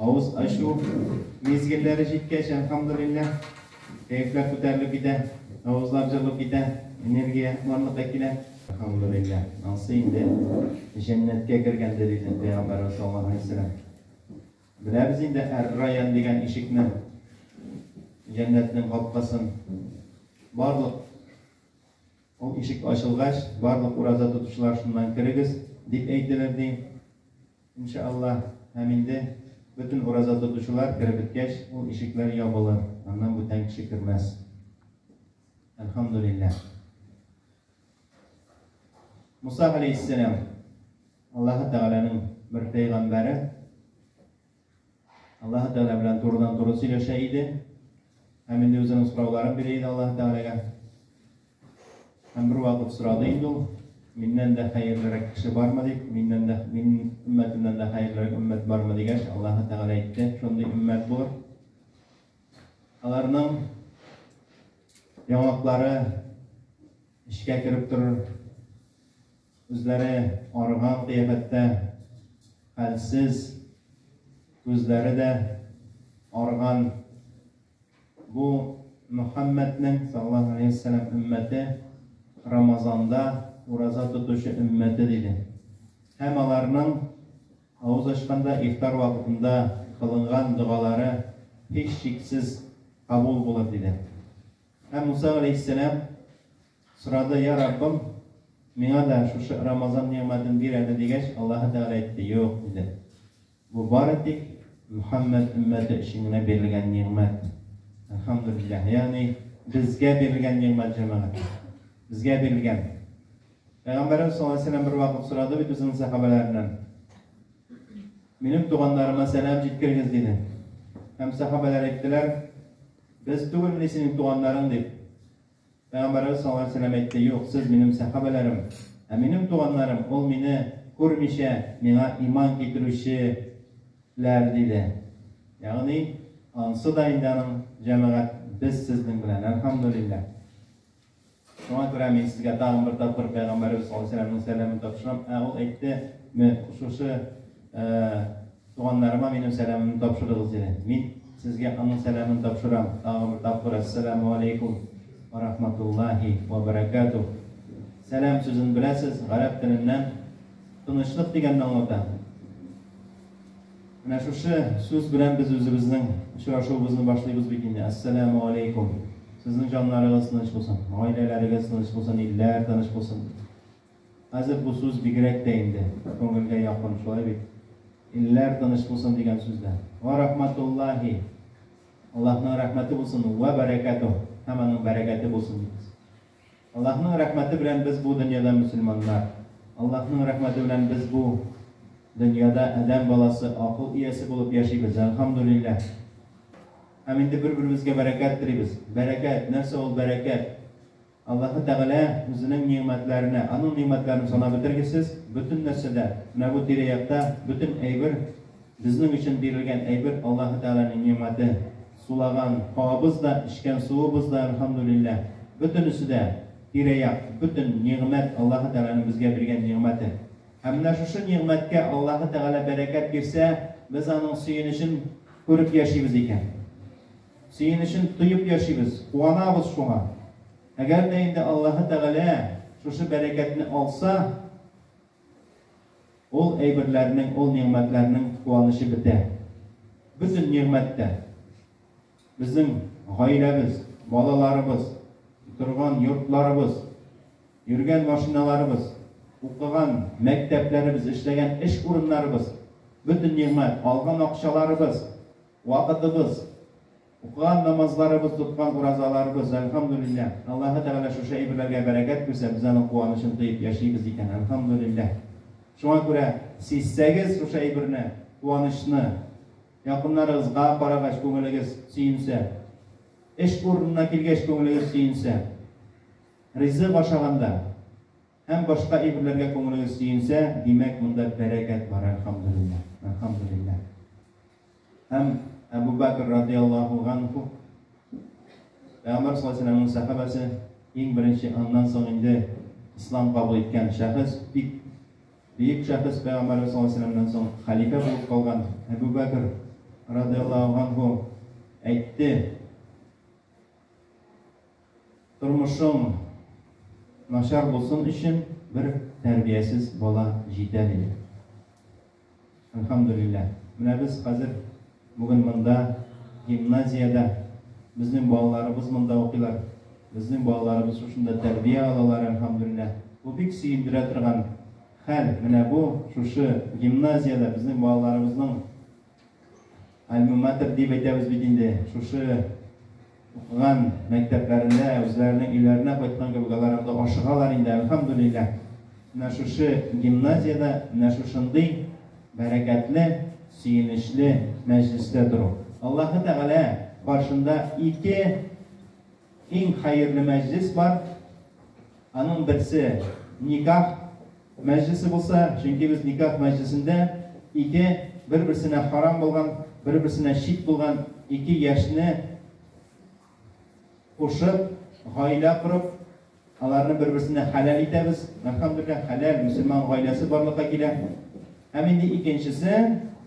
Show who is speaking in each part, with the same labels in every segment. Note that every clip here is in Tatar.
Speaker 1: Авыз ачу мизгелләре җиткәч, әлхәмдүлилләһ, кәефләр күтәрелеп китә, авызлар җылып китә, энергия барлыкка килә. Әлхәмдүлилләһ, ансы инде җәннәткә кергәндер иде, пәйгамбәрбез саллаллаһу галәйһи ва сәлләм. Беләбез инде әр-райян дигән ишекне, җәннәтнең капкасын. Барлык ул ишек ачылгач, барлык ураза тотучылар шуннан керегез, дип әйтелер, ди. Ин ша Аллаһ, һәм инде бөтен ураза тотучылар кереп беткәч, ул ишекләр ябылыр, аннан бүтән кеше кермәс. Әлхәмдүлилләһ. Муса галәйһиссәлам, Аллаһы Тәгаләнең бер пәйгамбәре. Аллаһы Тәгалә белән турыдан-туры сөйләшә иде һәм инде үзенең сорауларын бирә иде Аллаһы Тәгаләгә. Һәм бервакыт сорады инде ул, миннән дә хәерлерәк кеше бармы дип, миннән дә, мин өммәтемнән дә хәерлерәк өммәт бармы дигәч, Аллаһы Тәгалә әйтте, шундый өммәт булыр. Аларның яңаклары эчкә кереп торыр, Үзләре арыган кыяфәттә, хәлсез, күзләре дә арыган бу Мөхәммәднең, саллаллаһу галәйһи ва сәлләм, өммәте Рамазанда ураза тотучы өммәте, диде. Һәм аларның авыз ачканда, ифтар вакытында кылынган догалары һичшиксез кабул булыр, диде. Һәм Муса галәйһиссәләм Сорады, Йа Раббым, миңа да шушы Рамазан нигъмәтен бир әле, дигәч, Аллаһы Тәгалә әйтте, Юк, диде. Бу бары тик Мөхәммәд өммәте өчен генә бирелгән нигъмәт. Әлхәмдүлилләһ. Ягъни, безгә бирелгән нигъмәт, җәмәгать. Безгә бирелгән. Пәйгамбәребез саллаллаһу алейһи ва сәлләм бервакыт сорады бит үзенең сәхабәләреннән, Минем туганнарыма сәлам җиткерегез, диде. Һәм сәхабәләр әйттеләр, Без түгелмени синең туганнарың? дип. Пәйгамбәребез саллаллаһу галәйһи ва сәлләм әйтте, Юк, сез, минем сәхабәләрем, ә минем туганнарым, ул мине күрмичә, миңа иман китерүче ләр, диде. Ягъни, ансы да инде аның, җәмәгать, без сезнең белән, әлхәмдүлилләһ. Шуңа күрә мин сезгә тагын бер тапкыр Пәйгамбәребез саллаллаһу галәйһи ва сәлләмнең сәламен тапшырам, ә ул әйтте, Мө, шушы, ә, Туганнарыма минем сәламемне тапшырыгыз иде. Мин сезгә аның сәламен тапшырам. Тагын бер тапкыр Әссәләмү аләйкүм вә рахматуллаһи вә бәрәкәтүһ. Сәлам сүзен беләсез, гарәп теленнән тынычлык дигәнне аңлата. Менә шушы сүз белән без үзебезнең очрашуыбызны башлыйбыз бит инде. Әссәләмү аләйкүм. Сезнең җаннарыгыз тыныч булсын, гаиләләрегез тыныч булсын, илләр тыныч булсын. Хәзер бу сүз бигрәк тә инде күңелгә якын, шулай бит? Илләр тыныч булсын дигән сүз дә. Вә рәхмәтуллаһи, Аллаһның рәхмәте булсын, вә бәрәкәтүһ, һәм аның бәрәкәте булсын дибез. Аллаһның рәхмәте белән без бу дөньяда мөселманнар, Аллаһның рәхмәте белән без бу дөньяда адәм баласы, акыл иясе булып яшибез, әлхәмдүлилләһ. Һәм инде бер-беребезгә бәрәкәт телибез. Бәрәкәт, нәрсә ул бәрәкәт? Аллаһы Тәгалә Үзенең нигъмәтләренә, Аның нигъмәтләрен санап бетергесез, бөтен нәрсәдә, менә бу тирә-якта бөтен әйбер, безнең өчен бирелгән әйбер Аллаһы Тәгаләнең нигъмәте. Сулаган һавабыз да, эчкән суыбыз да, әлхәмдүлилләһ, бөтенесе дә, тирә-як, бөтен нигъмәт Аллаһы Тәгаләнең безгә биргән нигъмәте. Һәм менә шушы нигъмәткә Аллаһы Тәгалә бәрәкәт бирсә, без аның сөенечен күреп яшибез икән. Сөенечен тоеп яшибез, куанабыз шуңа. Әгәр дә инде Аллаһы Тәгалә шушы бәрәкәтне алса, ул әйберләрнең, ул нигъмәтләрнең куанычы бетә. Бөтен нигъмәт тә, безнең гаиләбез, балаларыбыз, торган йортларыбыз, йөргән машиналарыбыз, укыган мәктәпләребез, эшләгән эш урыннарыбыз, бөтен нигъмәт, алган акчаларыбыз, Вакытыбыз, укыган намазларыбыз, тоткан уразаларыбыз, әлхәмдүлилләһ! Аллаһы Тәгалә шушы әйберләргә бәрәкәт куйса, без аның куанычын тоеп яшибез икән, әлхәмдүлилләһ! Шуңа күрә сизсәгез шушы әйберне, куанычны, якыннарыгызга карагач күңелегез сөенсә, эш урынына килгәч күңелегез сөенсә, ризык ашаганда, Һәм башка әйберләргә күңелегез сөенсә, димәк, монда бәрәкәт бар, әлхәмдүлилләһ, әлхәмдүлилләһ. Һәм Әбү Бәкер радиаллаһу ганһу, Пәйгамбәр саллаллаһу галәйһи ва сәлләмнең сәхабәсе, иң беренче, аннан соң инде ислам кабул иткән шәхес, бик бөек шәхес, Пәйгамбәребез саллаллаһу галәйһи ва сәлләмнән соң хәлифә булып калган Әбү Бәкер радиаллаһу ганһу әйтте, Тормышың начар булсын өчен бер тәрбиясез бала җитә, диде. Әлхәмдүлилләһ, менә без хәзер бүген монда, гимназиядә, безнең балаларыбыз монда укыйлар, безнең балаларыбыз шушында тәрбия алалар, әлхәмдүлилләһ. Бу бик сөендерә торган хәл. Менә бу шушы гимназиядә безнең балаларыбызның Альма-матер дип әйтәбез бит инде. Шушы укыган мәктәпләрендә, үзләренең өйләренә кайткан кебек алар анда ашыгалар инде, әлхәмдүлилләһ. Менә шушы гимназиядә менә шушындый бәрәкәтле, сөенечле мәҗлестә тору. Аллаһы Тәгалә каршында ике иң хәерле мәҗлес бар. Аның берсе, никах мәҗлесе булса, чөнки без никах мәҗлесендә ике бер-берсенә харам булган, бер-берсенә шик булган ике яшьне кушып, гаилә корып, аларны бер-берсенә хәләл итәбез. Әлхәмдүлилләһ, хәләл мөселман гаиләсе барлыкка килә. Һәм инде икенчесе,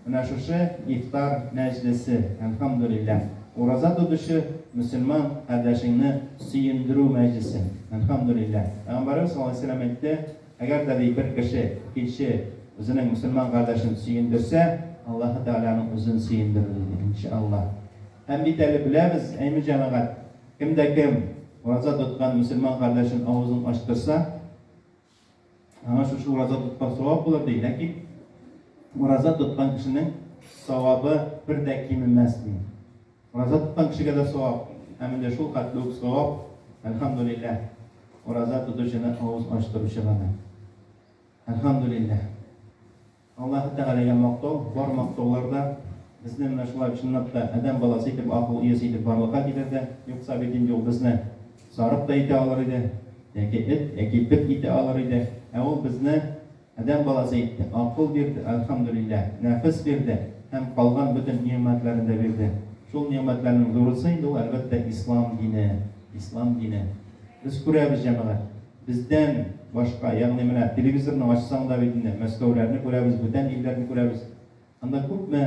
Speaker 1: менә шушы ифтар мәҗлесе, әлхәмдүлилләһ, ураза тотучы мөселман кардәшеңне сөендерү мәҗлесе, әлхәмдүлилләһ. Пәйгамбәребез саллаллаһу галәйһи ва сәлләм әйтте, Әгәр дә, ди, бер кеше икенче үзенең мөселман кардәшен сөендерсә, Аллаһы Тәгаләнең үзен сөендерер, диде, ин ша Аллаһ. Һәм бит әле беләбез, әйме, җәмәгать, кем дә кем ураза тоткан мөселман кардәшен авызын ачтырса, Аңа шушы ураза тоткан савап булыр, ди. Ләкин ураза тоткан кешенең савабы бер дә кимемәс, ди. Ураза тоткан кешегә дә савап, һәм инде шул хәтле үк савап, әлхәмдүлилләһ, ураза тотучыны авыз ачтыручыга да. Әлхәмдүлилләһ. Аллаһы Тәгаләгә мактау, бар мактаулар да безне менә шулай чынлап та адәм баласы итеп, акыл иясе итеп барлыкка китерде. Юкса бит инде ул безне сарык та итә алыр иде, яки эт, яки бет итә алыр иде. Ә ул безне адәм баласы итте, акыл бирде, әлхәмдүлилләһ, нәфес бирде һәм калган бөтен нигъмәтләрен дә бирде. Шул нигъмәтләрнең зурысы инде ул, әлбәттә, ислам дине. Ислам дине. Без күрәбез, җәмәгать. Бездән башка, ягъни менә телевизорны ачсаң да бит инде Мәскәүләрне күрәбез, бүтән илләрне күрәбез. Анда күпме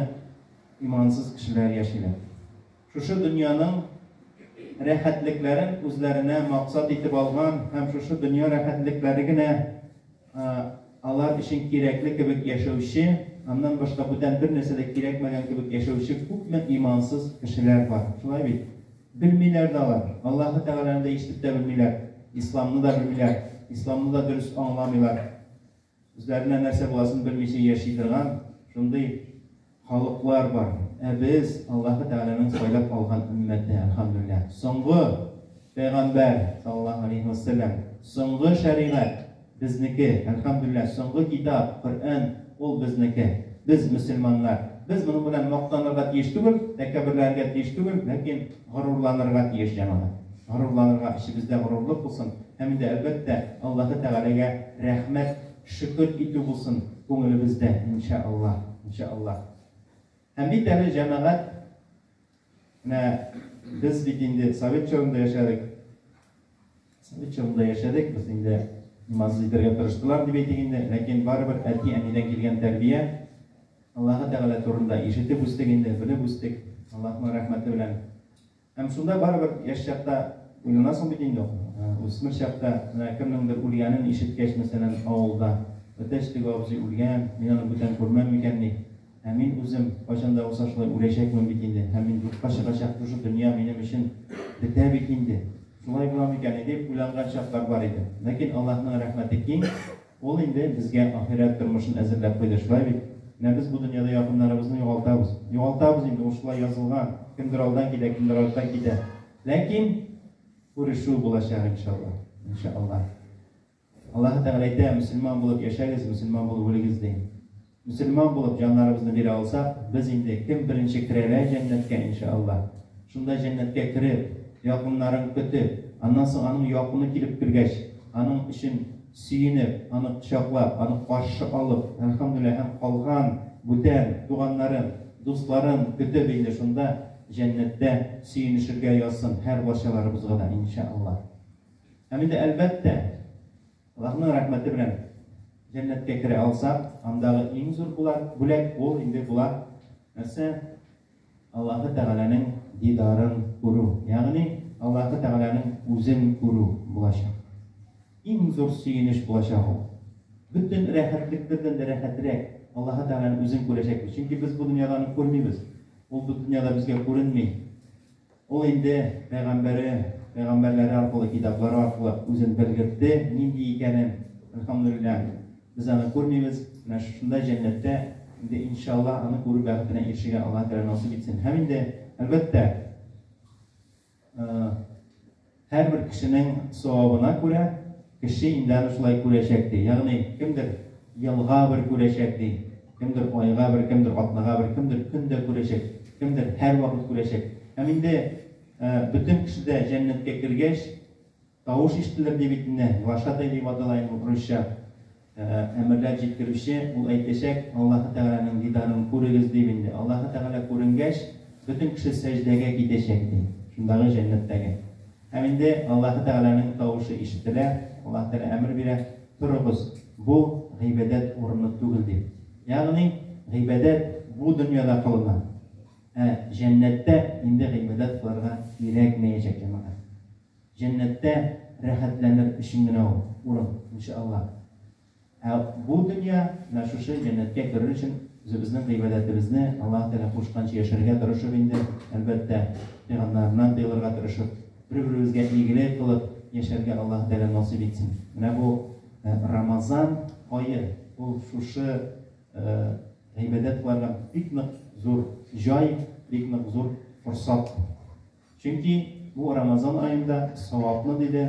Speaker 1: имансыз кешеләр яшиләр. Шушы дөньяның рәхәтлекләрен үзләренә максат итеп алган һәм шушы дөнья рәхәтлекләре генә алар өчен кирәкле кебек яшәүче, аннан башка бүтән бер нәрсә дә кирәкмәгән кебек яшәүче күпме имансыз кешеләр бар. Шулай бит? Белмиләр дә алар. Аллаһы Тәгаләне дә ишетеп тә белмиләр. Исламны да белмиләр. Исламны да дөрес аңламыйлар. Үзләренә нәрсә буласын белмичә яши торган шундый халыклар бар. Ә без, Аллаһы Тәгаләнең сайлап алган өммәте, әлхәмдүлилләһ. Соңгы пәйгамбәр, саллаллаһу галәйһи вә сәлләм, соңгы шәригать. Безнеке, әлхәмдүлилләһ, соңгы китап, Коръән, ул безнеке. Без, мөселманнар, без моның белән мактанырга тиеш түгел, тәкәбберләнергә тиеш түгел, ләкин горурланырга тиеш, җәмәгать. Горурланырга, эчебездә горурлык булсын һәм инде, әлбәттә, Аллаһы Тәгаләгә рәхмәт, шөкер итү булсын күңелебездә, иншәАллаһ, иншәАллаһ. Һәм бит әле, җәмәгать, Менә без бит инде совет чорында яшәдек. Совет чорында яшәдек, без инде имансыз итәргә тырыштылар дип әйтик инде, ләкин барыбер әти-әнидән килгән тәрбия, Аллаһы Тәгалә турында ишетеп үстек инде, белеп үстек, Аллаһның рәхмәте белән. Һәм шунда барыбер яшь чакта уйланасың бит инде, үсмер чакта, менә кемнеңдер үлгәнен ишеткәч, мәсәлән, авылда, Әтәч теге абзый үлгән, мин аны бүтән күрмәм микәнни? Ә мин үзем, кайчан да булса шулай үләчәкмен бит инде, һәм мин юкка чыгачак шушы дөнья минем өчен бетә бит инде, шулай була микәнни дип уйланган чаклар бар иде. Ләкин Аллаһның рәхмәте киң, Ул инде безгә ахирәт тормышын әзерләп куйды, шулай бит? Менә без бу дөньяда якыннарыбызны югалтабыз. Югалтабыз инде, ул шулай язылган, кемдер алдан китә, кемдер арттан китә. Ләкин күрешү булачак, иншаллаһ. Иншааллаһ. Аллаһы Тәгалә әйтә, Мөселман булып яшәгез, мөселман булып үлегез, ди. Мөселман булып җаннарыбызны бирә алсак, без инде кем беренче керәлә җәннәткә, иншә Аллаһ, шунда җәннәткә кереп, якыннарын көтеп, аннан соң аның якыны килеп кергәч, аның өчен сөенеп, аны кочаклап, аны каршы алып, әлхәмдүлилләһ, һәм калган бүтән туганнарын, дусларын көтеп инде шунда, җәннәттә, сөенешергә язсын һәрбарчаларыбызга да, иншә Аллаһ. Һәм инде, әлбәттә, Аллаһның рәхмәте белән җәннәткә керә алсак, андагы иң зур булат, бүләк ул инде була, нәрсә? Аллаһы Тәгаләнең дидарын күрү, ягъни Аллаһы Тәгаләнең үзен күрү булачак. Иң зур сөенеч булачак ул. Бөтен рәхәтлекләрдән дә рәхәтрәк Аллаһы Тәгаләнең үзен күрәчәкбез, чөнки без бу дөньяда аны күрмибез, ул бу дөньяда безгә күренми. Ул инде пәйгамбәре, пәйгамбәрләре аркылы, китаплары аркылы үзен белгертте, нинди икәнен, әлхәмдүлилләһ. Без аны күрмибез, менә шушында, җәннәттә, инде иншаллаһ, аны күрү бәхетенә ирешергә Аллаһ Тәгалә насыйп итсен. Һәм инде, әлбәттә, Һәрбер кешенең савабына күрә кеше инде аны шулай күрәчәк, ди. Ягъни, кемдер елга бер күрәчәк, ди, кемдер айга бер, кемдер атнага бер, кемдер көн дә күрәчәк, кемдер һәрвакыт күрәчәк. Һәм инде бөтен кеше дә җәннәткә кергәч, тавыш ишетелер, ди бит инде, глашатай дип атала инде русча. Әмерләр җиткерүче, ул әйтәчәк, Аллаһы Тәгаләнең дидарын күрегез, дип инде. Аллаһы Тәгалә күренгәч, бөтен кеше сәҗдәгә китәчәк, ди, шундагы җәннәттәге. Һәм инде Аллаһы Тәгаләнең тавышы ишетелә, Аллаһы Тәгалә әмер бирә, Торыгыз, бу гыйбадәт урыны түгел, дип. Ягъни, гыйбадәт бу дөньяда кылына, ә җәннәттә инде гыйбадәт кылырга кирәкмәячәк, җәмәгать. Җәннәттә рәхәтләнер өчен генә ул урын, иншаАллаһ. Ә бу дөнья, менә шушы җәннәткә керер өчен үзебезнең гыйбадәтебезне Аллаһы Тәгалә кушканча яшәргә тырышып инде, әлбәттә, тыйганнарыннан тыелырга тырышып, бер-беребезгә игелек кылып яшәргә Аллаһы Тәгалә насыйп итсен. Менә бу Рамазан ае, ул шушы гыйбадәт кыларга бик нык зур җай, бик нык зур форсат. Чөнки бу Рамазан аенда савапны, диде,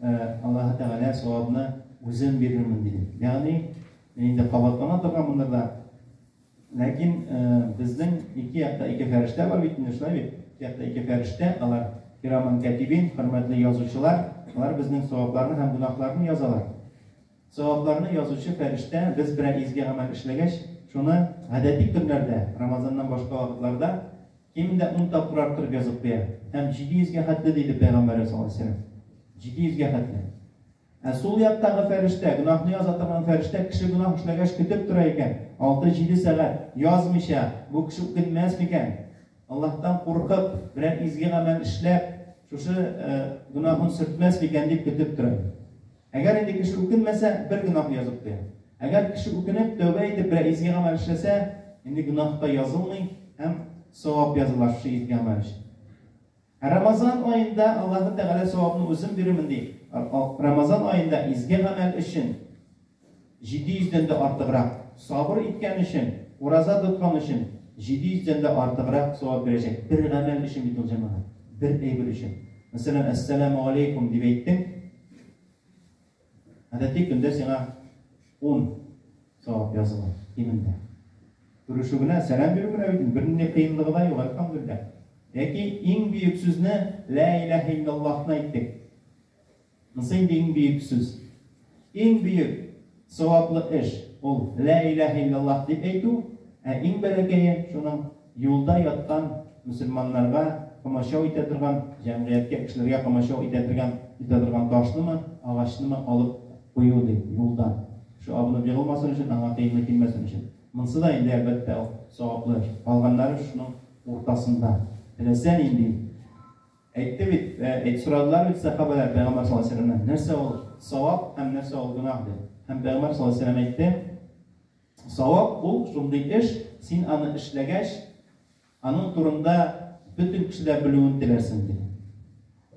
Speaker 1: Аллаһы Тәгалә савапны үзем бирермен, диде. Ягъни, инде кабатлана торган мондыр да. Ләкин безнең ике якта ике фәрештә бар бит инде, шулай бит? Ике якта ике фәрештә, алар кираман кәтибин, хөрмәтле язучылар, алар безнең савапларны һәм гөнаһларны язалар. Савапларны язучы фәрештә без берәр изге гамәл эшләгәч, шуны гадәти көннәрдә, Рамазаннан башка вакытларда кимендә ун тапкыр арттырып язып куя. Һәм җиде йөзгә хәтле, диде пәйгамбәребез саллаллаһу алейһи ва сәлләм. Җиде йөзгә хәтле. Ә сул яктагы фәрештә, гөнаһны яза торган фәрештә кеше гөнаһ эшләгәч көтеп тора икән, алты-җиде сәгать, язмыйча, бу кеше үкенмәс микән? Аллаһтан куркып, берәр изге гамәл эшләп, шушы гөнаһын сөртмәс микән дип көтеп тора. Әгәр инде кеше үкенмәсә, бер гөнаһ язып куя. Әгәр кеше үкенеп, тәүбә итеп, берәр изге гамәл эшләсә, инде гөнаһ та язылмый һәм савап языла шушы изге гамәл өчен. Ә Рамазан аенда Аллаһы Тәгалә савапны үзем бирермен ди. Рамазан аенда изге гамәл өчен Җиде йөздән дә артыграк сабыр иткән өчен, ураза тоткан өчен, җиде йөздән дә артыграк савап бирәчәк. Бер гамәл өчен бит ул, җәмәгать. Бер әйбер өчен. Мәсәлән, Әссәләмегаләйкүм дип әйттең. Гадәти көндә сиңа ун савап языла, кимендә. Күрешү генә, сәлам бирү генә бит инде, бернинди кыенлыгы да юк, әлхәмдүлилләһ. Яки иң бөек сүзне, Лә иләһә илләллаһны әйттек. Мс инде иң бөек сүз. Иң бөек саваплы эш, ул Лә иләһә илләллаһ дип әйтү, ә иң бәләкәе, шуның юлда яткан мөселманнарга комачау итә торган, җәмгыятькә, кешеләргә комачау итә торган итә торган ташнымы, агачнымы алып кую, ди, юлдан. Шул абынып егылмасын өчен, аңа тиенгә килмәсен өчен. Монсы да инде, әлбәттә, ул саваплы эш. Калганнары шуның уртасында. Теләсә нинди. Әйтте бит, әйт, сорадылар бит сәхабәләр пәйгамбәр саллаллаһу алейһи вә сәлләмнән, нәрсә ул савап һәм нәрсә ул гөнаһ дип. Һәм пәйгамбәр саллаллаһу алейһи вә сәлләм әйтте, савап ул шундый эш, син аны эшләгәч, аның турында бөтен кешеләр белүен теләрсең дип.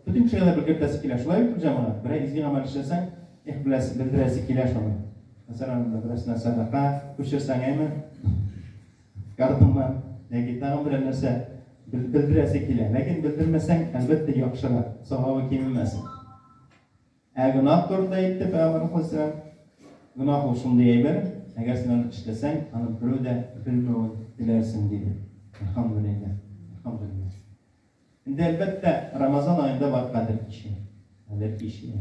Speaker 1: Бөтен кешегә дә белгертәсе килә. Шулай бит җәмәгать, берәр изге гамәл эшләсәң, их беләсе, белдерәсе килә шуны. Мәсәлән, берәрсенә сәдака күчерсәң, әйме? Ярдәме, яки тагын берәр нәрсә белдерәсе килә. Ләкин белдермәсәң, әлбәттә, яхшырак, савабы кимемәс. Ә гөнаһ турында әйтте Пәйгамбәр хәзрәт. Гөнаһ ул шундый әйбер, әгәр син аны эшләсәң, аны берәү дә белмәвен теләрсең диде. Әлхәмдүлилләһ. Әлхәмдүлилләһ. Инде әлбәттә, Рамазан аенда бар кадер кичә. Кадер кичә.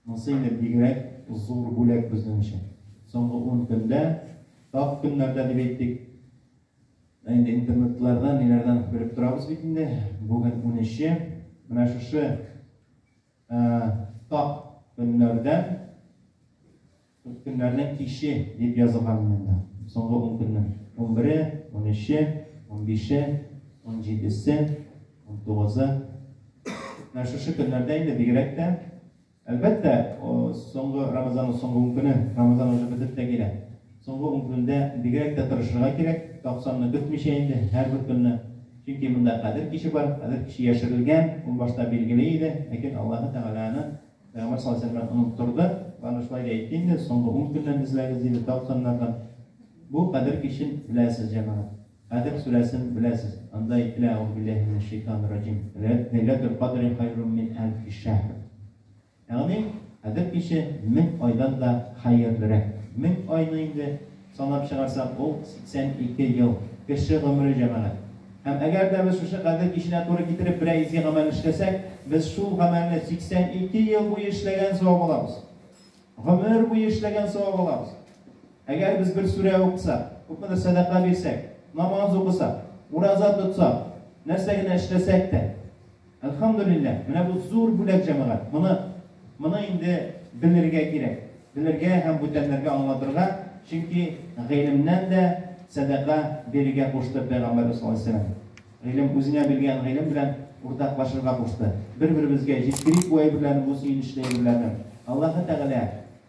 Speaker 1: Монсы инде бигрәк зур бүләк безнең өчен. Соңгы ун көндә, тап көннәрдә дип әйтик, ә инде интернетлардан, ниләрдән белеп торабыз бит инде, бүген унөче, менә шушы тап көннәрдән Үткөннәрнең киче дип язылган иде монда. Соңгы ун көннең унбере, унөче, унбише, унҗидесе, унтугызы. Менә шушы көннәрдә инде бигрәк тә, әлбәттә, соңгы Рамазанның соңгы ун көне, Рамазан уже бетеп тә килә. Соңгы ун көндә бигрәк тә тырышырга кирәк, токсанны көтмичә инде һәрбер көнне. Чөнки монда Кадер киче бар, Кадер киче яшерелгән, ул башта билгеле иде, ләкин Аллаһы Тәгалә аны Пәйгамбәр саллаллаһу алейһи ва сәлләм оныттырды. Аны шулай да әйтте инде, соңгы ун көннән эзләгез диде, тапканнардан. Бу кадер кичен беләсез, җәмәгать. Кадер сүрәсен беләсез. Анда әйтелә, Әгъузу биллаһи минәш шәйтанир раҗим. Ләйләтул кадри хайрун мин әлфи шәһр. Ягъни, кадер киче мең айдан да хәерлерәк. Мең айны инде Санап чыгарсак, ул, 82 ел. Кеше гомере, җәмәгать. Һәм әгәр дә без шушы Кадер киченә туры китереп берәр изге гамәл эшләсәк, без шул гамәлне 82 ел буе эшләгән савап алабыз. Гомер буе эшләгән савап алабыз. Әгәр без бер сүрә укысак, күпмедер сәдака бирсәк, намаз укысак, ураза тотсак, нәрсә генә эшләсәк тә, Әлхәмдүлилләһ, менә бу зур бүләк, җәмәгать! Моны, моны инде белергә кирәк, белергә һәм бүтәннәргә аңлатырга, чөнки гыйлемнән дә сәдака бирергә кушты Пәйгамбәрбез саллаллаһу аләйһи вә сәлләм. Гыйлем, үзеңә биргән гыйлем белән уртаклашырга кушты. Бер-беребезгә җиткерик бу әйберләрне, бу сөенечле әйберләрне. Аллаһы Тәгалә.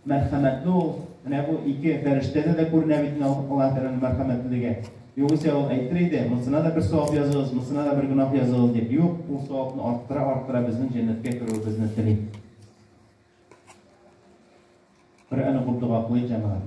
Speaker 1: Мәрхәмәтле ул, менә бу ике фәрештәдә дә күренә бит инде Аллаһ Тәгаләнең мәрхәмәтлелеге. Югыйсә ул әйтер иде, монсына да бер савап языгыз, монсына да бер гөнаһ языгыз дип. Юк, ул савапны арттыра-арттыра безнең җәннәткә керүебезне тели. Коръән укып дога кылыйк, җәмәгать.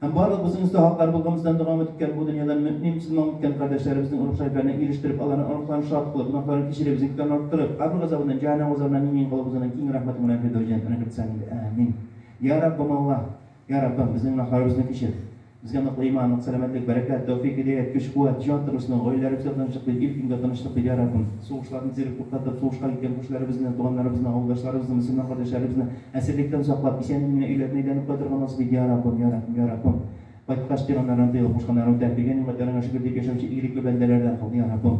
Speaker 1: Һәм барлыкбызның үз хаклары булганыбыздан дога өмет иткән бу дөньядан мөэмин, мөселман үткән кардәшләребезнең рух-шәрәфләренә ирештереп, аларның оныкларын шат кылып, гөнаһларын кичереп, зикләрен арттырып, кабер газабыннан, җәһәннәм газабыннан имин кылып узуның киң рәхмәтең белән фирдәүс җәннәтенә кертсәң иде. Әәмин. Йә Раббым Аллаһ! Йә Раббым, безнең гөнаһларыбызны кичер! Безгә ныклы иман, нык сәламәтлек, бәрәкәт, тәүфик, һидәят, көч-куәт, җан тынычлыгы, гаиләләребезгә тынычлык бир, ил-көнгә тынычлык бир, йә Раббым! Сугышларны тизрәк туктатып, сугышка киткән күршеләребезне, туганнарыбызны, авылдашларыбызны, мөселман кардәшләребезне, Әсирлектән саклап, исәнен генә өйләренә әйләнеп кайтырга насыйп ит, йа Раббым, йа Рәхим, йа Раббым! Кайткач, пирәннәрдән тыелып, кушканнарын үтә, биргән нигъмәтләреңә шөкер дип яшәүче игелекле бәндәләрдән кыл, йа Раббым!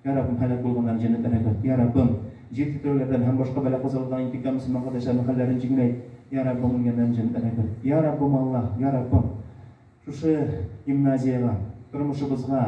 Speaker 1: Йа Раббым, һәлак булганнарны җәннәтләргә керт, йа Раббым! Җир тетреүләрдән һәм башка бәла-казалардан интикам мөселман кардәшләрнең хәлләрен җиңеләйт, йа Раббым! Үлгәннәрне җәннәтләргә керт, йа Раббым, Аллаһ, йа Раббым! Шушы гимназиягә, тормышыбызга,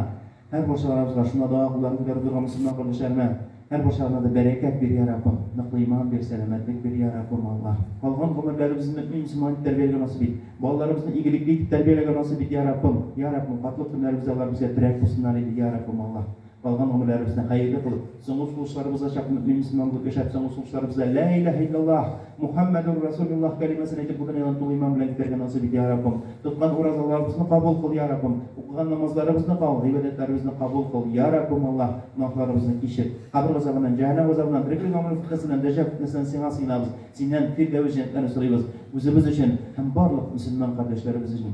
Speaker 1: һәр барчаларыбызга шунда дога кулларын күтәреп торган мөселман кардәшләремә, һәр барчаларына да бәрәкәт бир, йа Раббым! Ныклы иман бир, сәламәтлек бир, йа Раббым Аллаһ! Калган гомерләребезне мөэмин мөселман итеп тәрбияләргә насыйп ит! Балаларыбызны игелекле итеп тәрбияләргә насыйп ит, йа Раббым! Йа Раббым, картлык көннәребездә алар безгә терәк булсыннар иде, йа Раббым Аллаһ! Калган гомерләребезне хәерле кылып, соңгы сулышларыбызга чак мөэмин мөселман булып яшәп, соңгы сулышларыбызда Лә иләһә илләллаһ, Мухәммәдүр Расулиллаһ кәлимәсен әйтеп бу дөньядан тулы иман белән китәргә насыйп ит, йа Раббым. Тоткан уразаларыбызны кабул кыл, йа Раббым. Укыган намазларыбызны кал, гыйбадәтләребезне кабул кыл, йа Раббым Аллаһ. Гөнаһларыбызны кичер. Кабер газабыннан, җәһәннәм газабыннан, тереклек гомере фетнәсеннән, дәҗҗал фетнәсеннән Сиңа сыенабыз. Синнән фирдәвес җәннәтләрен сорыйбыз. Үзебез өчен һәм барлык мөселман кардәшләребез өчен.